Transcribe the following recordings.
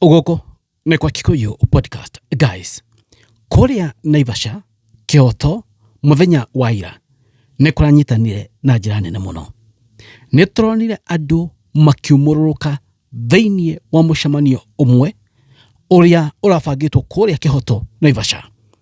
Gũkũ nĩ kwa Kikuyu Podcast. Guys, kũrĩa Naivasha, Kĩoto, mũthenya wa ira nĩ kũranyitanire na njĩra nene mũno. Nĩ tũronire andũ makiumũrũrũka thĩinĩ wa mũcemanio ũmwe ũrĩa ũrabangĩtwo kũrĩa Kĩhoto, Naivasha.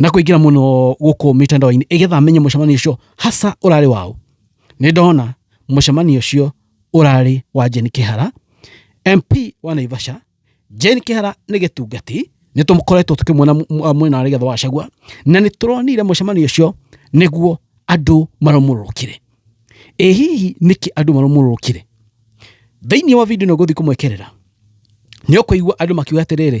na kũingĩra mũno gũkũ mĩtandao-inĩ ĩgetha menye mũcemanio ũcio hasa ũrarĩ waũ nĩ ndona mũcemanio ũcio ũrarĩ wa Jane Kĩhara MP wa Naivasha Jane Kĩhara nĩ gĩtungati nĩ tũkoretwo tũkĩmuona mwena wa Rigathĩ wa Gachagua na nĩ tũronire mũcemanio ũcio nĩguo andũ marũmũrũkire ĩ hihi nĩkĩ andũ marũmũrũkire thĩinĩ wa video ĩno ngũthiĩ kũmwekerera nĩ ũkũigua andũ makiuga atĩrĩrĩ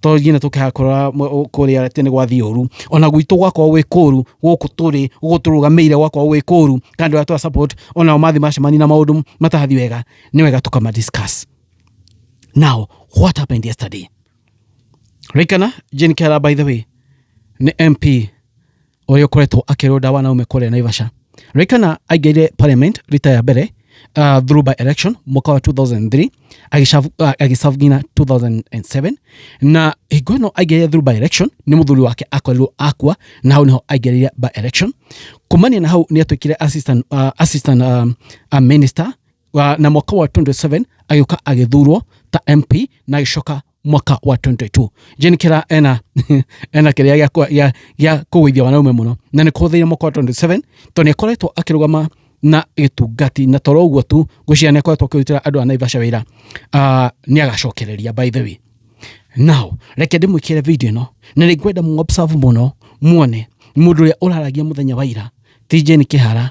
to nyine tũkĩhakora kũrĩa tene gwathiĩ ũru ona gwitũ gwakorwo gwĩ kũru gũkũ tũrĩ gũkũ tũrũgamĩire gwakorwo gwĩ kũru kana andũ arĩa twa support onao mathi macemani na maũndũ matahathi wega nĩ wega tũkama discuss now what happened yesterday Rikana Jane Kera by the way nĩ MP ũrĩa ũkoretwo akĩrũnda wanaume kũrĩa Naivasha. Rĩkana aingĩrire parliament rita ya mbere uh, through by election mwaka wa 2003 agĩcabu- uh, agĩcabu nginya 2007 na hingo ĩno aingĩrire through by election nĩ mũthuri wake akorirwo akua na hau nĩho aingĩrire by election kumania na hau nĩ atuĩkire assistant, uh, assistant um, uh, minister wa- na mwaka wa 27 agĩũka agĩthurwo ta mp na agĩcoka mwaka wa 2022 jeni kira ena ena kiria gya gya gya kugwithia wanaume muno na ni kuhuthiire mwaka wa 27 to ni akoretwo akirugama na gitungati na toro uguo tu ngwiciria ni akoretwo akirutira andu a naivasha wira uh, ni agacokereria by the way now reke ndimwikire video ino na ni ngwenda mu observe muno muone mundu uria uraragia muthenya wa ira ti jeni kihara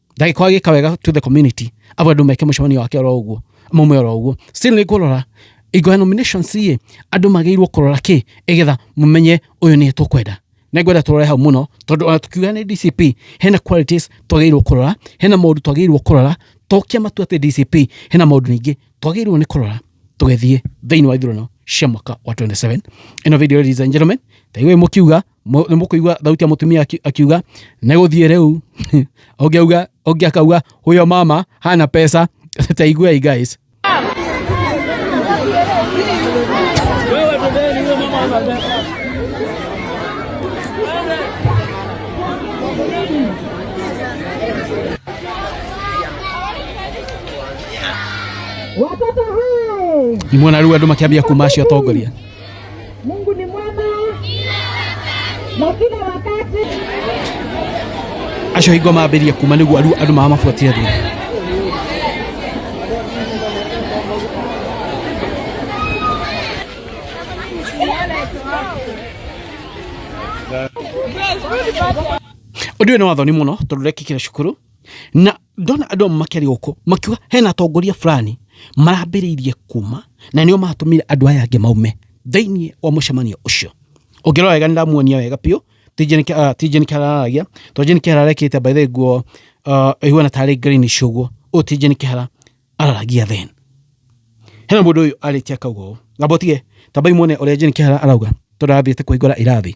ndagĩkorwo agĩka wega to the community abo andũ meke mũcemanio wake oro ũguo maume oro ũguo still nĩ kũrora ingo ya nominations rĩ andũ magĩrĩirwo kũrora kĩ ĩgetha mũmenye ũyũ nĩ tũkwenda nĩ ngwenda tũrore hau mũno tondũ ona tukiuga nĩ dcp hena qualities twagĩrĩirwo kũrora hena maũndũ twagĩrĩirwo kũrora tokia matua atĩ dcp hena maũndũ ningĩ twagĩrĩirwo nĩ kũrora tũgĩthiĩ thĩinĩ wa ithurano cia mwaka wa 27 ĩno video ladies and gentlemen taigũĩ mũkiuga Mu- nĩ mũkũigua thauti ya mũtumia aki- akiuga negũthiĩ rĩu ũngĩ auga ũngĩ akauga huyo mama hana pesa taiguei guys Watoto hai! imwe narua andå makä ambia kuma acio atongoria Mungu ni mwema na kila wakati. acio hingo mambĩrĩria kuma nĩguo andũ andũ maya mabuatire thutha ũndũ ũyũ nĩ wathoni mũno tondũ rekĩkire cukuru na ndona andũ amwe makĩaria gũkũ makiuga hena atongoria fulani marambĩrĩirie kuma na nĩo maratũmire andũ aya angĩ maume thĩinĩ wa mũcemanio ũcio ũngĩrora wega nĩndamuonia wega biũ tinjeni kĩhararagia to jeni kĩhara arekĩte by the nguo uh, ihuana tarĩ green cũguo ũyũ tinjeni kĩhara araragia then hena mũndũ ũyũ arĩtie akauga ũũ ngamba ũtige tambai muone ũrĩa jeni kĩhara arauga tondũ arathiĩte kũhingũra irathi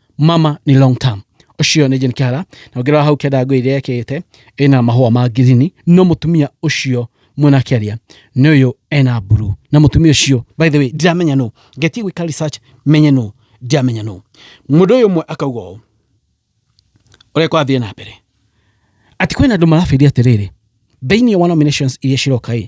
mama nĩ long term ũcio nĩ Jane Kĩhara na ũngĩrora hau kĩanda ngũĩ iria ekĩte ĩna mahũa ma ngirini no mũtumia ũcio mwena kĩaria nĩ ũyũ ena mburu na mũtumia ũcio by the way ndiramenya nũ ngetie gwĩka research menye nũ ndiramenya nũ mũndũ ũyũ ũmwe akauga ũũ ũrĩa kwathiĩ na mbere atĩ kwĩna andũ marabĩria atĩrĩrĩ thĩinĩ wa nominations iria ciroka ĩ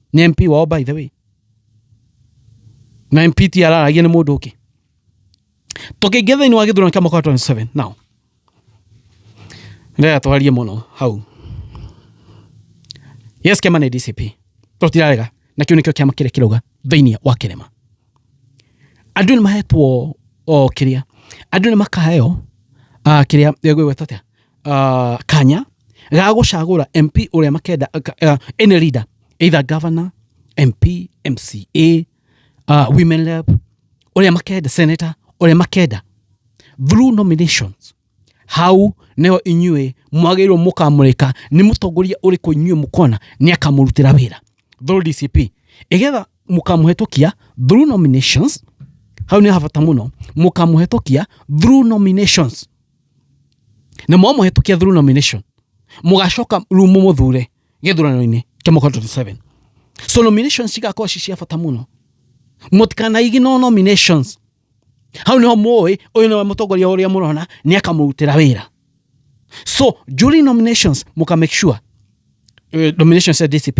nĩ MP wao by the way na MP ti araragia nĩ mũndũ ũngĩ tũkĩingĩa thĩinĩ wa gĩthurano kĩa mwaka wa 27 now ndĩrenda twarie mũno hau yes kĩama nĩ DCP tũtirarega na kĩu nĩkĩo kĩama kĩrĩa kĩrauga thĩinĩ wa kĩrĩma andũ nĩ mahetwo o kĩrĩa andũ nĩ makaheo ah, kĩrĩa gwĩgweta atĩa uh, kanya ga gũcagũra mp ũrĩa makenda uh, any leader either governor mp mca uh, women rep ũrĩa makenda senator ũrĩa makenda through nominations hau nĩho inyuĩ mwagĩrĩirwo mũkamũrĩka nĩ mũtongoria ũrĩkũ inyuĩ mũkona nĩ akamũrutĩra wĩra through dcp ĩgetha mũkamũhetũkia through nominations hau nĩ habata mũno mũkamũhetũkia through nominations na mwamũhetũkia through nomination mũgacoka rĩu mũmũthure gĩthurano-inĩ kĩa mwaka 27 so nominations cigakorwo ci cia bata mũno mũtikanaigi no nominations hau niho mũĩ ũyũ nĩwe mũtongoria ũrĩa mũrona nĩ akamũrutĩra wĩra so during nominations mũka make sure eh, nominations ya dcp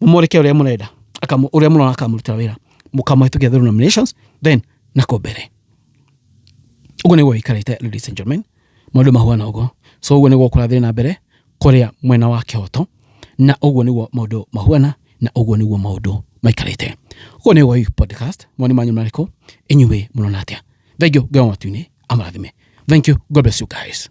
mumurike uria murenda akamu uria murona akamurutira wira mukamuhitukia through nominations then nako mbere uguo niguo ikarite ladies and gentlemen maundu mahuana uguo so uguo niguo kurathire na mbere kuria mwena wa kihoto na uguo niguo maundu mahuana na uguo niguo maundu maikarite uguo niguo hii podcast mwani manyu mariku inyuwe murona atia thank you ngai wa matu-ini amarathime thank you god bless you guys